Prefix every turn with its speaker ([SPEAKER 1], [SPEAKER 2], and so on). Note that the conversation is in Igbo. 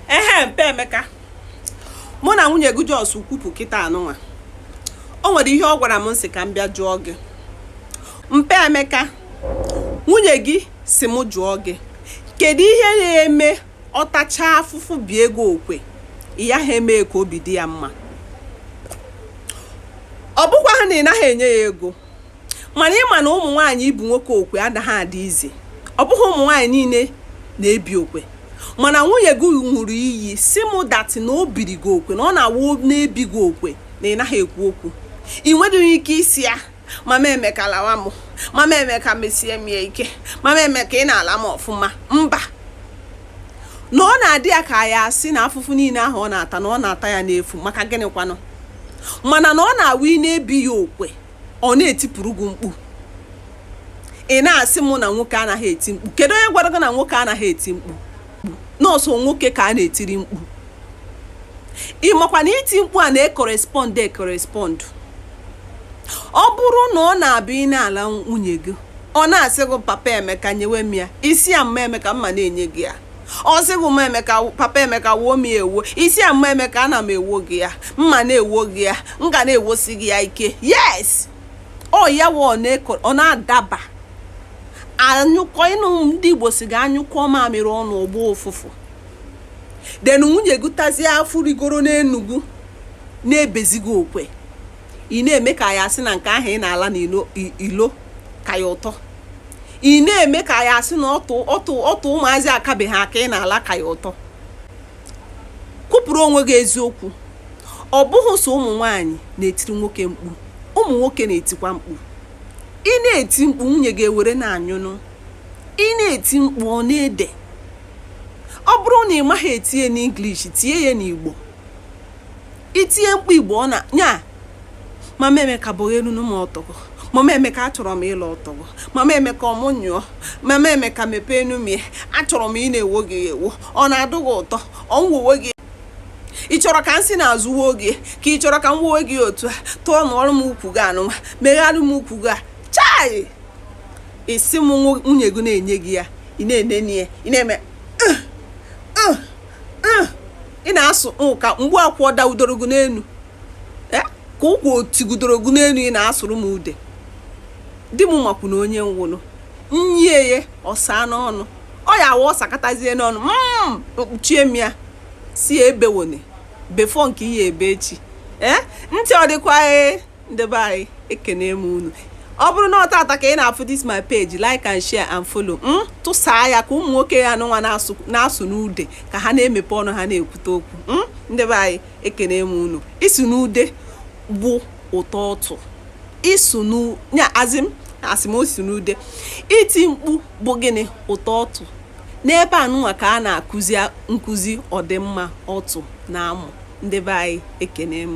[SPEAKER 1] ehe mpa emeka mụ na nwunye gị just kwupụ kịta anụnwa o nwere ihe ọ gwara m m sị ka m bịa jụọ gị mpa emeka nwunye gị sị m jụọ gị kedu ihe ya-eme ọ tachaa afụfụ bie gị okwe ị yaha eme ka obi dị ya mma ọ bụkwa ha na ị naghị enye ya ego mana ị ma na ụmụ nwaanyị ibi nwoke okwe anaghị adị izi ọ bụghị ụmụ nwaanyị niile na-ebi okwe mana nwunye gị ṅụrụ iyi sị mụ that na o biri gị okwe na ọ na-awụ na-ebi gị okwe na ị naghị ekwu okwu ị nwedịghị ike ịsị ya mama emeka lawa m mama emeka mesie m ya ike mama emeka ị na-ala m ọfụma mba na ọ na-adị ya ka ya asị na afụfụ niile ahụ ọ na-ata na ọ na-ata ya n'efu maka gịnị kwanụ mana na ọ na-awụ ị na-ebi ya okwe ọ na-etipụrụ gị mkpu ị na-asị mụ na nwoke anaghị eti mkpu kedu onye gwara gị na nwoke anaghị eti mkpu na ọ sọ nwoke ka a na-etiri mkpu ị makwa na iti mkpu a na-ecorrespond ecorrespond ọ bụrụ na ọ na-abụ ị na-ala nwunye gị ọ na-asị gị papa emeka nyewe m ya ị sị ya mma emeka mma na-enye gị ya ọ sị gị mma emeka papa emeka woo m ya ewo ị sị ya mma emeka ana m ewo gị ya mma na-ewo gị ya m ga na-ewosi gị ya ike yes ọ ya wa ọ na-adaba a nyụkọọ ị nụ ndị igbo sị na a nyụkọọ mamịrị ọnụ ọ gbọọ ụfụfụ then nwunye gị tazie afụfụ rigoro n'enu gị na-ebizi gị okwe ị na-eme ka ya asị na nke ahụ ị na-ala n'ilo ka ya ụtọ ị na-eme ka ya asị na ọtụ ọtụ ọtụ ụmụazị akabeghị aka ị na-ala ka ya ụtọ kwupụrụ onwe gị eziokwu ọ bụghị sọ ụmụ nwaanyị na-etiri nwoke mkpu ụmụ nwoke na-etikwa mkpu ị na-eti mkpu nwunye gị ewere na-anyụnụ ị na-eti mkpu ọ na-ede ọ bụrụ na ị maghị etinye n'English tinye ya n'Igbo itinye mkpu igbo na ya mama emeka bụghị elu nye m ọtụ gị mama emeka achọrọ m ịla ọtụ gị mama emeka ọmụ nyụọ mama emeka mepee nye m ya achọrọ m ịna-ewo gị ewo ọ na-adị gị ụtọ ọ nwuwe gị ị chọrọ ka m si n'azụ woo gị ka ị chọrọ ka m woo gị otu a turnụọrọ m ukwu gị anụnwa megharịara m ukwu gị a chai isi m nwunye gị na-enye gị ya ị na-enene ya ị na-eme ah, ị na-asụ mm, ka mgbe akwụ dawudoro gị n'elu eh, ka ụkwụ otigudoro gị n'elu ị na-asụrụ m ude di m makwu na onye nwụrụ nye ya ọsa n'ọnụ ọ ya awa ọ sakatazie n'ọnụ mkpuchie mm, m ya si ebewone before nke ihe ebe chie eh, ntị ọ dịkwa ee eh, ndị be anyị ekene m unu ọ bụrụ na ọ taata ka ị na-afụ this my page like and share and follow m hmm? tụsaa ya ka ụmụ nwoke anụnwa na-asụ n'ude ka ha na-emepe ọnụ ha na-ekwute okwu hmm? ndị be anyị ekene m unu ịsụ n'ude bụ ụtọ ọtụ isu n'nya azim asị m ịsụ n'ude iti mkpu bụ gịnị ụtọ ọtụ n'ebe anụnwa ka a na-akụzi nkụzi ọdịmma ọtụ na amụ ndị be anyị ekene m